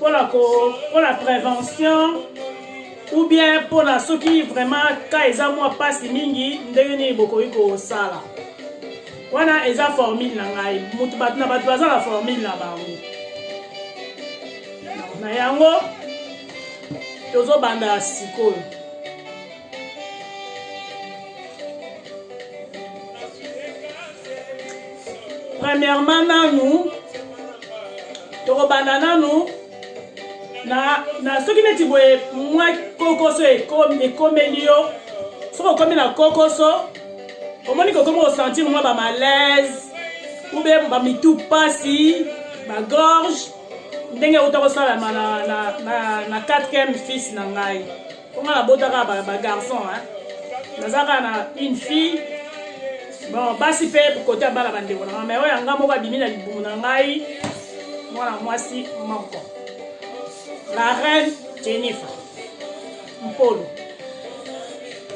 pona ko pona prévention ou bien pona soki vraiment ka eza mwa pasi mingi ndenge nini bokoki kosala wana eza formule na ngai mutu bato na bato baza na formule na bango na yango tozobanda sikoyo premièrement nanu tokobanda nanu na, na soki neti boye mwa kokoso ekomeli yo soki okomi na kokoso omoni kokomi kosentir mwa bamalaise ube bamitu mpasi bagorge ndenge euta kosalama na, na, na, na 4 fils na ngai mpo nga nabota kaka bagarçon naza kaka na une fille bon basi mpe kote ya bana bandeko na nga mai oyo ya nga moko abimi na libumu na ngai mwana mwasi moko la reine jennifer mpolo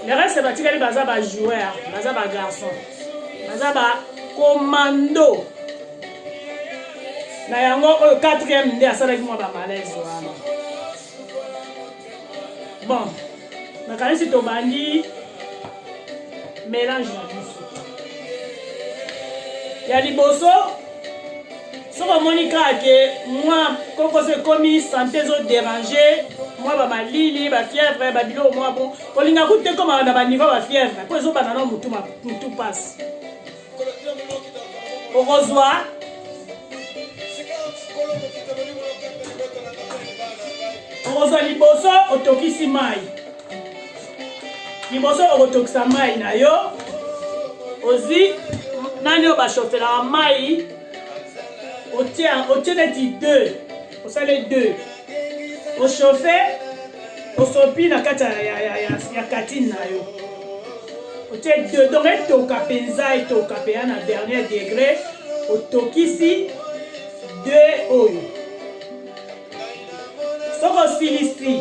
le reste batikali baza bajoueur baza bagarçon baza bacommando na yango oyo 4 nde asalaki mwa bamalaise wana bon nakanisi tobandi mélange na biso ya liboso soki omoni kaka ke mwa kokoso ekomi sante ezoderange mwa bamalili bafièvre babiloko mwa bo kolinga kutu te ekomaka na baniveau bafièvre mpo ezobanda na motu mpasi okozwa okozwa liboso otokisi mai liboso okotokisa mai na yo ozwi nani oyo bashofelaka mai otie neti 2 osale deux ochauffe osopi na kati ya katine na yo otie deux donc etoka mpenza etoka mpenza na dernier degré otokisi deux oyo soki osilisi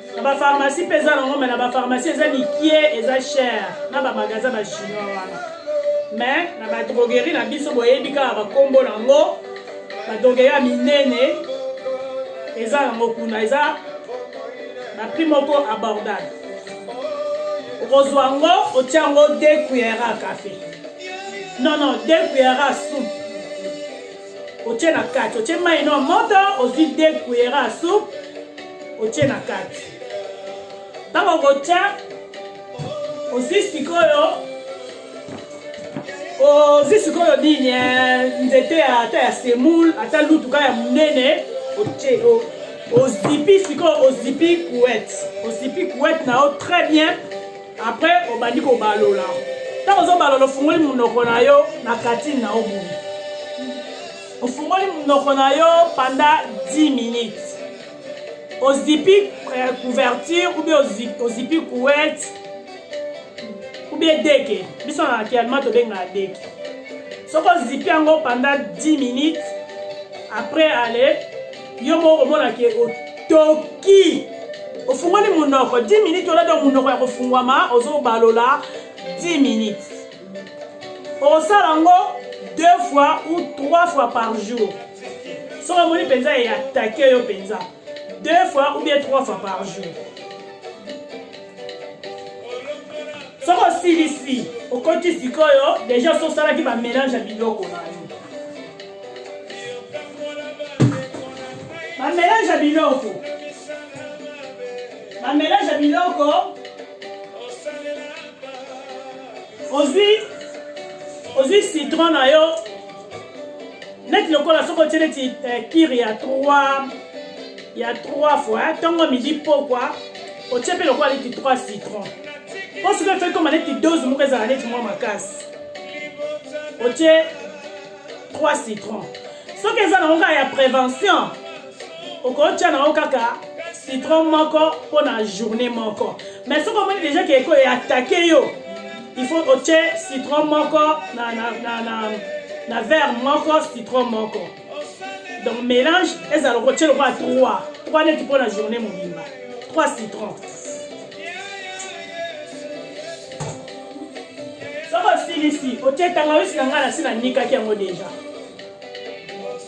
na ba pharmacie mpe eza nango me na ba pharmacie eza mikie eza cher na ba magasin ba chinois wana me na ba droguerie na biso boyebi kaka bakombo nango ba droguerie ya minene eza nango kuna eza na prix moko abordable okozwa yango otya yango de cuillera cafe non non de cuillera soupe otye na kati otye mai no moto ozwi de cuillera soupe otie na kati ntango okotya ozwi sikoyo ozwi sikoyo nini eh, nzete ata ya semoule ata lutuka ya monene otie ozipi sikoyo ozipi kuete ozipi kuete na yo très bien après obandi kobalola ntango ozobalola ofungoli monoko na yo na katine na yo boye ofungoli monoko na yo pendant 10 minutes ozipi eh, couverture ou bien ozipi couette ou bien deke biso na kialma tobengaka deke soki ozipi yango pendant 10 minutes après ale yo moko omona ke otoki ofungoli monoko 10 minutes olata monoko ya kofungwama ozobalola 10 minutes okosala yango deux fois ou trois fois par jour soki omoni mpenza eye atake yo mpenza deux fois ou bien trois fois par jour soki osilisi okoti sikoyo deja soki osalaki bamélange ya biloko na yo bamélange ya biloko bamélange ya biloko ozwi ozwi citron na yo neti lokola soki otie neti eh, kiri ya 3 ya 3 fois ntongo midi pokwa otie mpe lokola neti 3 citron mpo soki efekoma neti dose moko ezala neti mwa makasi otie 3 citron soki eza nango kaka ya prévention okotya nango kaka citron moko mpo na journée moko mais soki omoni déjà ke ekoyo atake yo il faut otye citron moko na, na, na, na, na verre moko citron moko donc mélange ezala okotye lokola 3 3 neti mpo na journée mobimba 3 citron soki osilisi otie tangawisi na ngai nasi nanikaki yango deja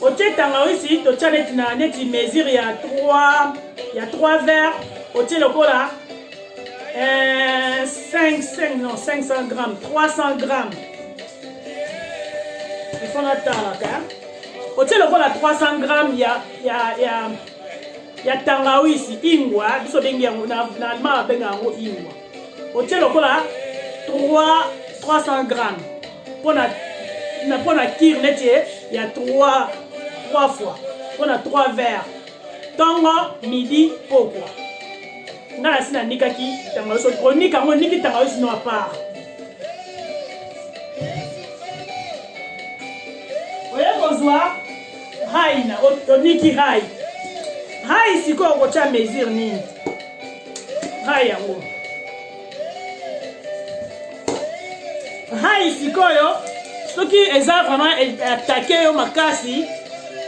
otie tangawisi totya neti na neti mesure ya 3 ya 3 vert otie lokola 5 eh, 5 non 500 grammes 300 grammes ifo natalaka otie lokola 300 grammes ya ya ya ya tangawisi ingwa biso bengi yango na allemand babenga yango ingwa otie lokola 300 gramme mpona na mpona kire neti ya 3 3 fois mpona 3 verre ntongo midi pokwa nga nasi nanikaki tangawiso onika yango oniki tangawiso no apart oye kozwa hai na oniki hai hai sikoyo okotya mesure nini hai yango hai sikoyo soki eza vraiment e, atake yo makasi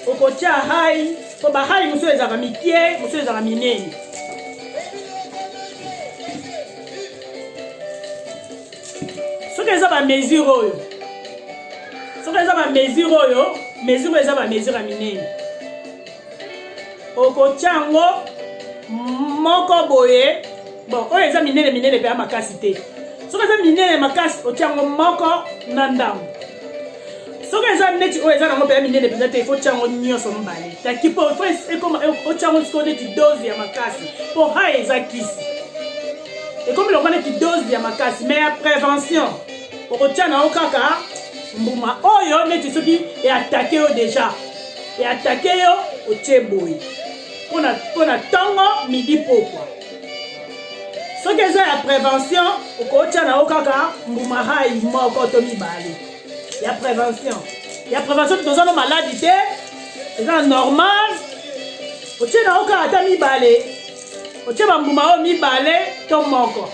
okotya hai mpo bahai mosusu ezalaka mikie mosusu ezalaka minene soki eza bamesure oyo soki eza bamesure oyo mesure eza bamesure ya minene okotya yango moko boye bon oyo eza minene minene mpe ya makasi te soki eza minene makasi otya yango moko na ndambo soki eza neti oyo eza nango mpenza minene mpenza te ifo otya yango nyonso mibale taki mpo ifo ekoma otya yango sikoyo neti dose ya makasi mpo ha eza kisi ekomi lokola neti dose ya makasi mai ya prévention okotya na yo kaka mbuma oyo neti soki eatake yo déjà e atake yo otie boye mpo na ntongo midi pokwa soki eza ya prévention okotya na yo kaka mbumarai moko to mibale ya prévention ya prévention toza no maladi te eza normal otye na yo kaka ata mibale otye bambuma oyo mibale to moko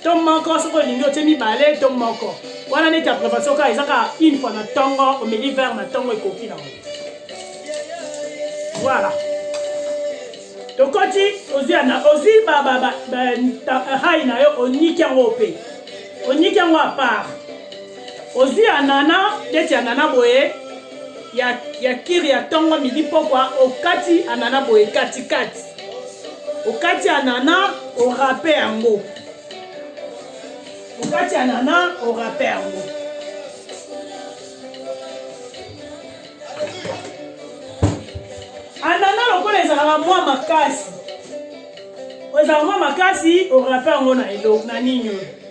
to moko soki olingi otie mibale to moko wana neti ya prévention kaka eza kaka une fois na ntongo omeli vert na ntongo ekoki nango voilà tokoti ozwi yana ozwi hai na yo oniki yango mpe oniki yango apart Ozi ya nana, tete ya nana boye, ya, ya kiri ya tongo midi pokwa, okati anana boye katikati. Okati anana, orape yango. Okati anana, orape yango. Anana lokola ezalaka mwa makasi. Oyo ezalaka mwa makasi, orape yango na elo, na nini oyo.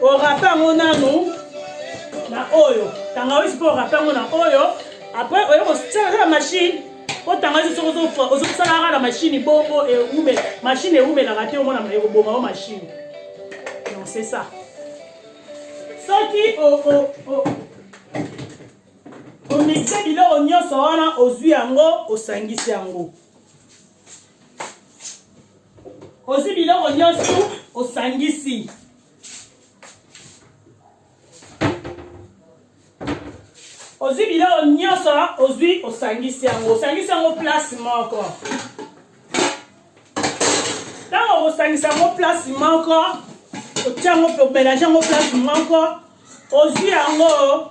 orape yango nanu na oyo tangawisi mpo orape yango na oyo apres oye kosalaka na mashine mpo tangawisi soki ozosalaka na mashine bongo eume mashine eumelaka te omona ekoboma o mashine non c'est ça soki omixe biloko nyonso wana ozwi yango osangisi yango ozwi biloko nyonso osangisi ozwi biloko nyonso ozwi osangisi yango osangisi yango place moko ntango okosangisa yango place moko otya yango mpe omelange yango place moko ozwi yango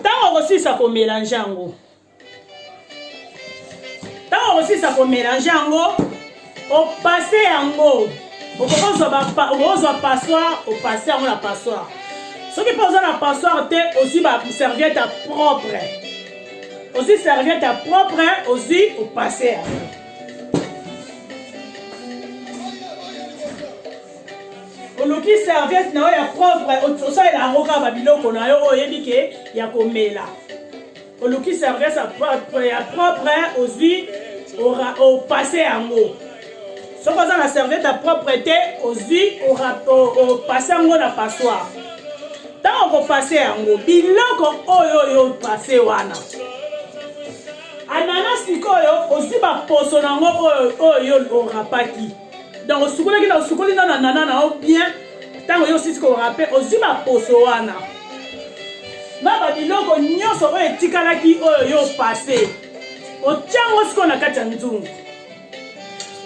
ntango okosilisa komelange yango ntango okosilisa komelange yango opase yango okozwa passoire opase yango na passoire soki mpe oza na passoire te ozwi baserviete ya propre ozwi serviette ya propre ozwi opase yango oluki serviette na yo ya propre osalela yango kaka babiloko na yo oyo oyebi ke ya komela oluki serviette ya propre ozwi opase yango soki oza na serviette ya propre te ozwi opase yango na passoire ntango okopase yango biloko oyo oyo opase wana anana sikoyo ozwi baposo na yango oyo oyo orapaki donc osukolaki na osukoli na na nana na yo bien ntango yo osisi korape ozwi baposo wana na babiloko nyonso oyo etikalaki oyo yo opase otyango sikoyo na kati ya nzungu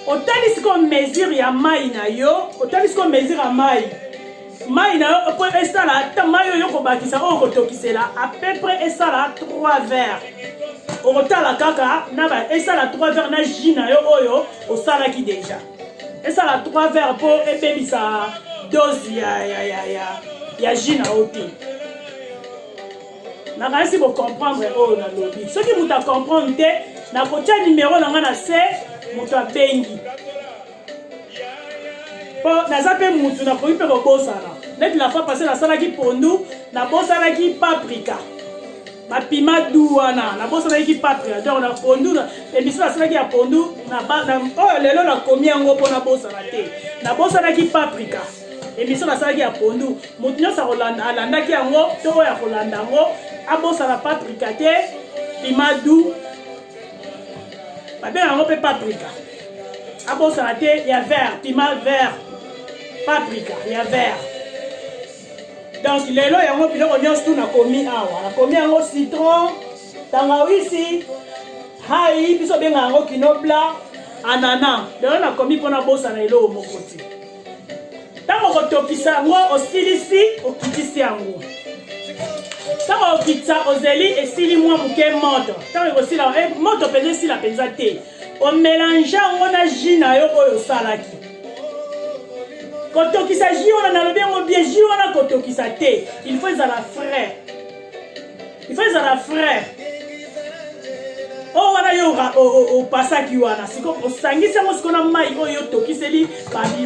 otali sikoyo mesure ya mai na yo otali sikoyo mesure ya mai mai na yo po esala ata mai oyo okobakisa oyo okotokisela à peu près esala 3 verre okotala kaka na ba esala 3 verre na jus na yo oyo osalaki déjà esala 3 verre po ebebisa dose ya ya ya ya ya jus na yo te nakanisi bocomprendre oyo nalobi soki moto acomprendre te nakotya nimero na ngai na se moto abengi po naza mpe mutu nakoki mpe kobosana neti la fois passé nasalaki pondu nabosanaki paprika bapima du wana nabosanaki paprika donc na pondu emission nasalaki ya pondu oyo lelo nakomi yango mpo nabosana te nabosanaki paprika emission nasalaki ya pondu moto nyonso alandaki yango to oyo akolanda yango abosana paprika te pima du babenga yango mpe paprika abosana te ya vert pima vert paprika ya vert donc lelo yango biloko nyonso tu nakomi awa nakomi yango citron tangawisi hai biso obenga yango kinobla anana lelo nakomi mpo nabosana eloko moko te ntango okotokisa yango osilisi okitisi yango ntango okitisa ozeli esili mwa moke moto ntango ekosila eh, moto mpenza esila mpenza te omelange yango na ji na yo oyo osalaki kotokisa ji wana nalobi yango bie ji wana kotokisa te il faut ezala frais il faut ezala frais oyo oh, wana yo opasaki wana siko osangisi yango siko na mai oyo otokiseli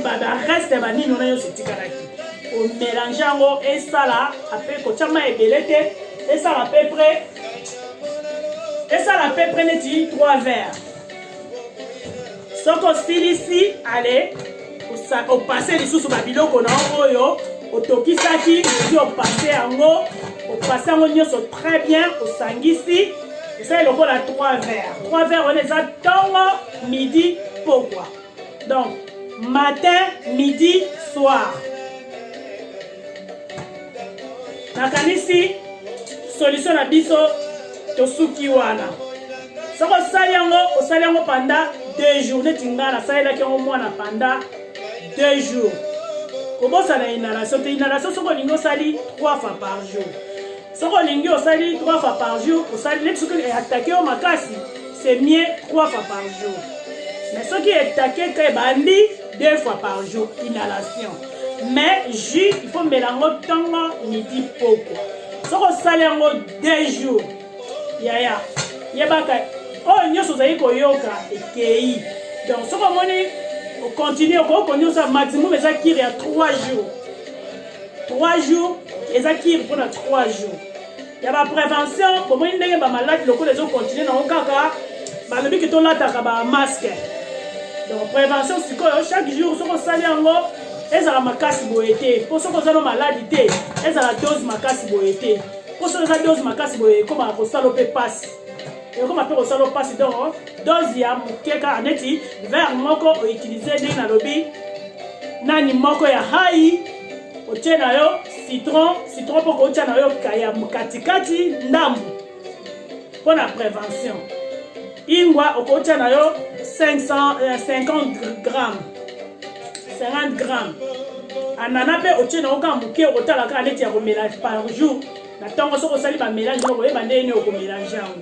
bareste ya banini wana nyonso etikalaki omelange yango esala ape kotya mai ebele te esala pe pre esala peu près neti 3 verre soki osilisi ale opase lisusu babiloko na yo oyo otokisaki osi opase yango opase yango nyonso très bien osangisi esali lokola 3 verre 3 verre wana eza ntongo midi pokwa donc matin midi soir nakanisi solution na biso tosuki wana soki osali yango osali yango panda deux jours neti ngai nasalelaki yango mwana panda deux jours kobosana inhalation te inhalation soki olingi osali trois fois par jour soki olingi osali 3 fois par jour osali neti soki eatake yo makasi c'est mieux 3 fois par jour mais soki etake ka ebandi 2 fois par jour inhalation mais jus il faut mela yango ntongo midi poko soki osali yango 2 jours yaya yebaka oyo nyonso ozali koyoka ekei donc soki omoni okontinue okoki koniosa maximum eza kiri ya 3 jours 3 jours eza kiri mpona 3 jours ya baprévention bomoni ndenge bamaladi lokola ezokontinue nango kaka balobi ke tolataka bamaske donc prévention sikoyo chaque jour soki osali yango ezala makasi boye te mpo soki oza no maladi te ezala dose makasi boye te mpo soki eza dose makasi boye ekomaka kosala mpe mpasi ekoma mpe kosala mpasi donc dose ya moke kaka neti vere moko outilize ndenge nalobi nani moko ya hai otie na yo citron citron mpo koutya na yo ya katikati ndambu mpo na prévention ingwa okoutya na yo 550 gramme 50 gramme anana mpe otie na yo kaka moke okotala kaka neti ya komela par jour na ntongo soki osali bamelange moko oyeba ndenge nini okomelange yango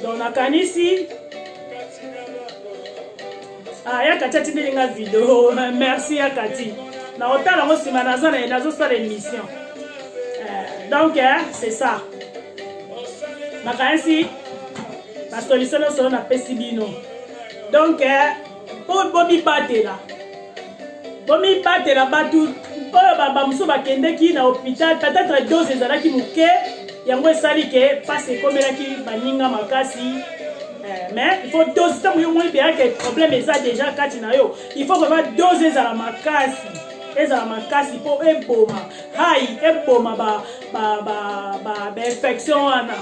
donc nakanisi ah, ya kati atindeli nga video merci ya kati na otala yango nsima naza na ye nazosala émission euh, donc eh, c'est ça nakanisi basolution nyonso oyo napesi bino donc eh, mpo bomibatela bomibatela bato oyo bamosusu bakendeki na hôpital peut-être dose ezalaki moke yango esali ke mpasi ekomelaki baninga makasi eh, mais il faut dose ntango yo moni beyaka problème eza déjà kati na yo il faut vraiment dose ezala makasi ezala makasi mpo eboma hai eboma bainfection wana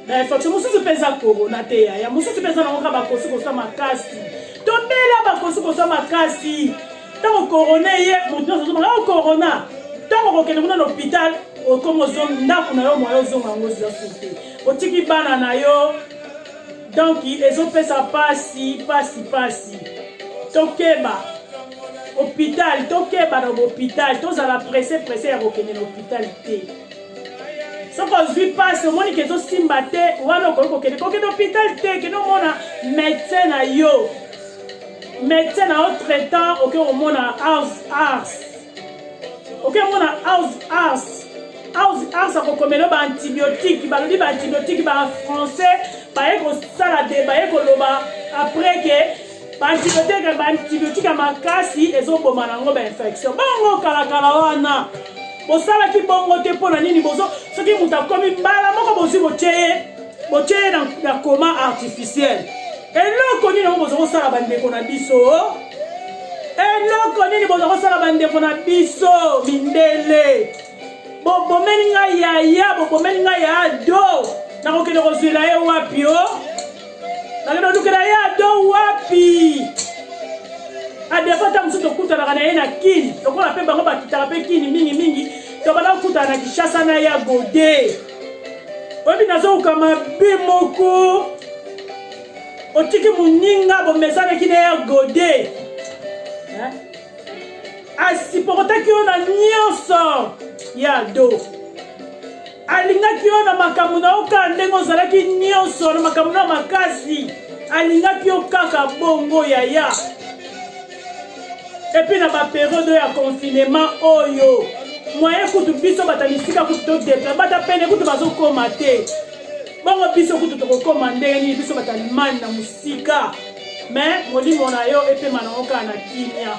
na infection mosusu mpe eza corona te yaya mosusu mpe eza nango kaka bakosi koswa makasi tobela bakosi koswa makasi ntango corona eye moto nyonso azomaka o corona ntango okokende kuna na hôpital okoma ozongi ndako na yo moya ozonga yango ozwa sote otiki bana na yo donk ezopesa mpasi mpasi mpasi tokeba hôpital tokeba na hôpital tozala presse presse ya kokende na hôpital te soki ozwi mpasi omoni ke ezosimba te wana okoki kokende kokende hôpital te kende omona médecin na yo médecin na yo traitant okoki komona house ars okoki komona house ars house ars akokomela yo baantibiotique balobi baantibiotique ba français baye kosala de baye koloba après ke baantibiotika baantibiotika makasi ezoboma nango bainfection bongo kalakala wana bosalaki bongo te mpo na nini bozo soki moto akomi mbala moko bozwi botye ye botye ye na koma artificiel eloko nini yango boza kosala bandeko na biso eloko nini boza kosala bandeko na biso mindele bobomeli ngai yaya bobomeli ngai ya ado nakokende kozwela ye wapi o oh? nakende kolukela ye ado wapi adefo ntango mosusu tokutanaka na ye na kini lokola mpe bango bakitaka mpe kini mingimingi tobanda kokutana na kinshasa na ya gode oyebi nazowuka mabe moko otiki moninga bomezanaki na ya gode asipokotaki yo na nyonso ya do alingaki yo na makambo na yo kaka ndenge ozalaki nyonso na makambo na makasi alingaki yo kaka bongo yaya epuis na baperiode ya confinement oyo moyen kutu biso bata misika kutu todepla bata pene kutu bazokoma te bongo biso kutu tokokoma ndenge nini biso bata limani na mosika Mais molimo na yo epema na oka na kimia.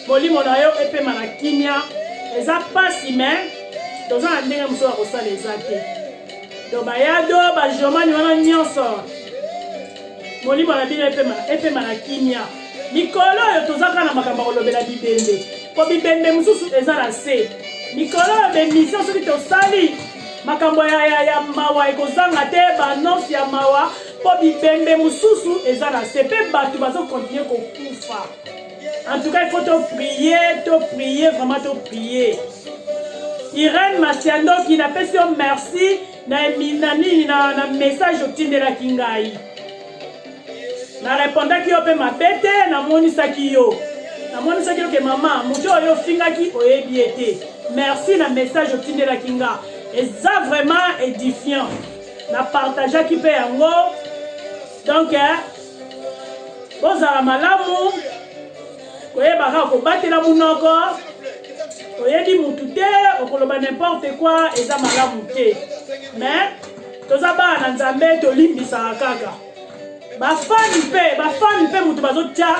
Molimo na yo epema na kimia. Eza pasi mais toza na ndenge mosusu ya kosala eza te. Donc bayado bajomani wana nyonso molimo na bino epema epema na kimia. Mikolo oyo toza kaka na makambo ya kolobela bibembe. Po bibembe mosusu eza na se. Mikolo oyo bemission soki tosali makambo ya, ya, ya mawa ekozanga te baannonce ya mawa mpo bibembe mosusu eza na se mpe bato bazokontinue kokufa en tout cas il faut toprie toprie vraiment toprie irene masiandoki napesi yo merci na nini na, na message otindelaki ngai narepondaki yo mpe mabe te namonisaki yo namonisaki yo ke mama moto oyo ofingaki oyebi ye te merci na message otindelaki nga eza vraiment édifiant na partageaki mpe yango donc eh, bozala malamu koyebaka kobatela monoko oyebi mutu te okoloba n'importe quoi eza malamu te mais toza bana na nzambe tolimbisaka kaka bafani mpe bafani mpe moto bazotya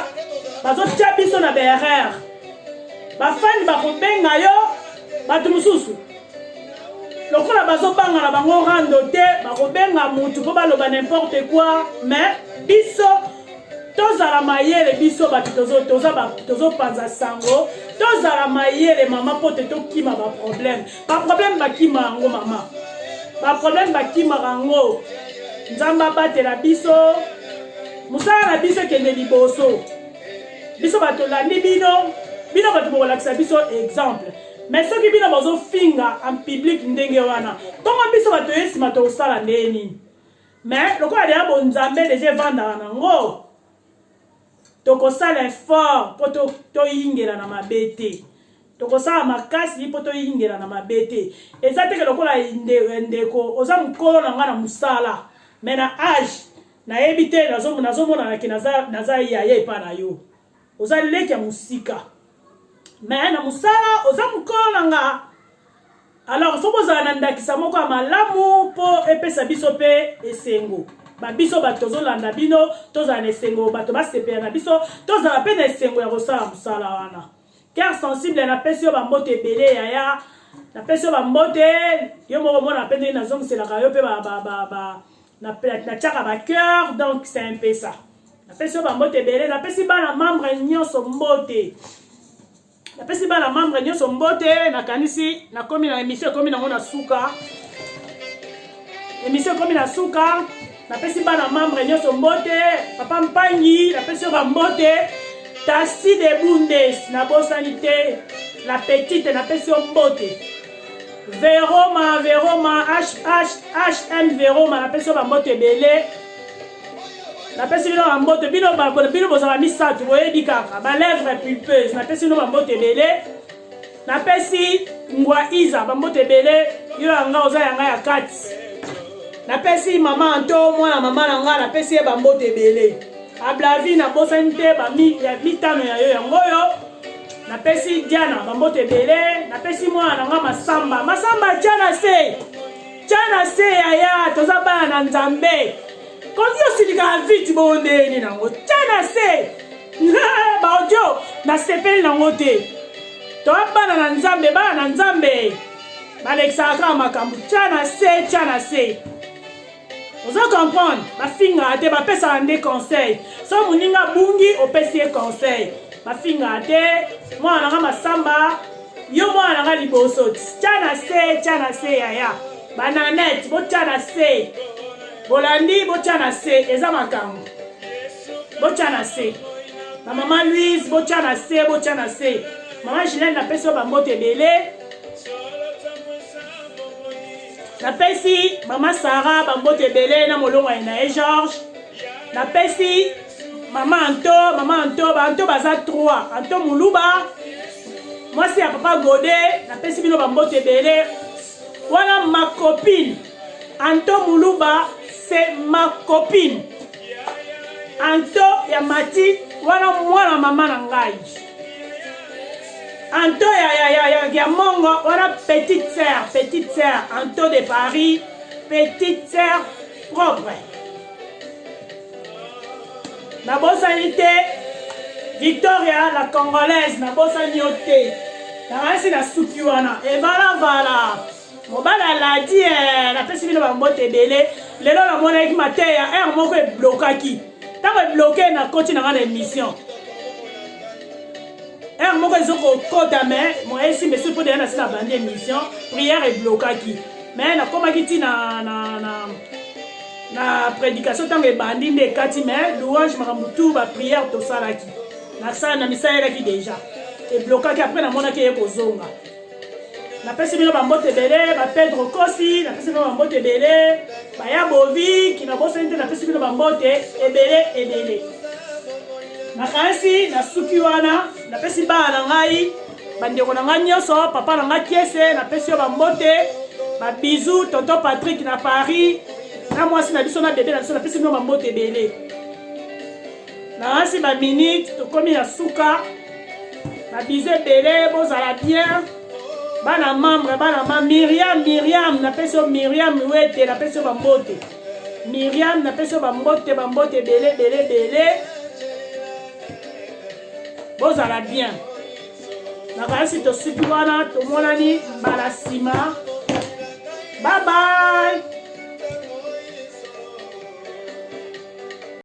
bazotya biso na berere bafani bakobenga yo bato mosusu lokola bazobanga na bango rando te bakobenga motu mpo baloba nimporte quoi mais biso tozala mayele biso bato tozopanza sango tozala mayele mama mpo te tokima baproblème ba problème bakima yango mama ba problème bakimaka yango nzambe abatela biso mosala na biso ekende liboso biso bato olandi bino bino bato bokolakisa biso exemple mais soki bino bozofinga en public ndenge wana ntongo biso bato ye nsima tokosala ndenge nini mais lokola deya bonzambe deja evandaka nango tokosala effort mpo toyingela na mabe te tokosala makasi mpo toyingela na mabe te eza teke lokola ndeko oza mokolo na ngai na mosala me na age nayebi te nazomonanaki naza yaya epa na yo oza leki ya mosika me na mosala oza mokolo na nga alors soki ozala na ndakisa moko ya malamu mpo epesa biso mpe esengo babiso bato tozolanda bino tozala na esengo bato basepela na biso tozala mpe na esengo ya kosala mosala wana car sensible napesi yo bambote ebele yaya napesi yo bambote yo moko omona mpe ndenge nazongiselaka yo mpe natiaka bacoeur donc c'est un mpe ça napesi yo bambote ebele napesi bana membre nyonso mbote napesi bana membre nyonso mbote nakanisi nakomi na emission ekomi nango na suka emission ekomi na suka napesi bana membre nyonso mbote papa mpangi napesi yo bambote tasi de bundes nabosani te la petite napesi yo mbote veroma veroma hhm veroma napesi yo bambote ebele napesi bino bambote bino bino bozala misato boyebi kaka balèvre pulpeuse napesi bino bambote ebele napesi ngwa iza bambote ebele yo yanga oza yanga ya kati napesi mama anto mwana mama na ngai napesi ye bambote ebele ablavi nabosani te mitano ya yo yango oyo napesi diana bambote ebele napesi mwana na ngai masamba masamba tya na se tya na se yaya toza bana na nzambe koki osilikaka vite bongo ndeni nango tya na se baodio nasepeli nango te toa bana na nzambe bana na nzambe balekisaka kaka makambo tya na se tya na se ozo comprendre bafingaka te bapesaka nde conseil so moninga abungi opesi ye conseil bafingaka te mwana nanga masamba Yo mwana na nga liboso, tya na se, tya na se yaya. Bananette, botya na se. Bolandi, botya na se, eza makambo. Botya na se. Ba mama Louise, botya na se, botya na se. Mama Gilene, napesi yo bambote ebele. Napesi mama Sarah bambote ebele na molongani na ye Georges. napesi mama anto mama anto baanto baza 3 anto moluba mwasi ya papa gode napesi bino bamboto ebele wana ma copine anto moluba se ma copine anto ya mati wana mwana mama na ngai anto ya, ya, ya, ya, ya mongo wana petite sœur petite sœur anto de paris petite sœur propre nabosani te victoria la congolaise nabosani yo te nakanisi nasuki wana evalavala mobali aladi e eh, napesi bino bambote ebele lelo namonaki mateya heure moko eblokaki ntango ebloke nakoti na ngai na émission heure moko ezo kokota mais moyen simba esoki mpo deya nasi na bandi émission prière eblokaki mais nakomaki ti na, na, na, na prédication ntango ebandi nde ekati mais louange makambo tout baprière tosalaki nasala na misalelaki déjà eblokaki après namonaki eye kozonga napesi bino bambote ebele bapedro kosi napesi bino bambote ebele baya bovi kinabosani te napesi bino bambote ebele ebele nakanisi nasuki wana napesi bana na ngai bandeko na ngai nyonso papa na ngai kiese napesi yo bambote babizu tonton patrik na paris na mwasi na biso na bebe na biso napesi bino bambote ebele Nalasi ba minute tokomi na suka na bize ebele bozala bien bana membre bana ma Miriam Miriam napesi yo Miriam Luete napesi yo bambote Miriam napesi yo bambote bambote ebele ebele ebele bozala bien nakanisi tosuki wana tomonani mbala nsima babai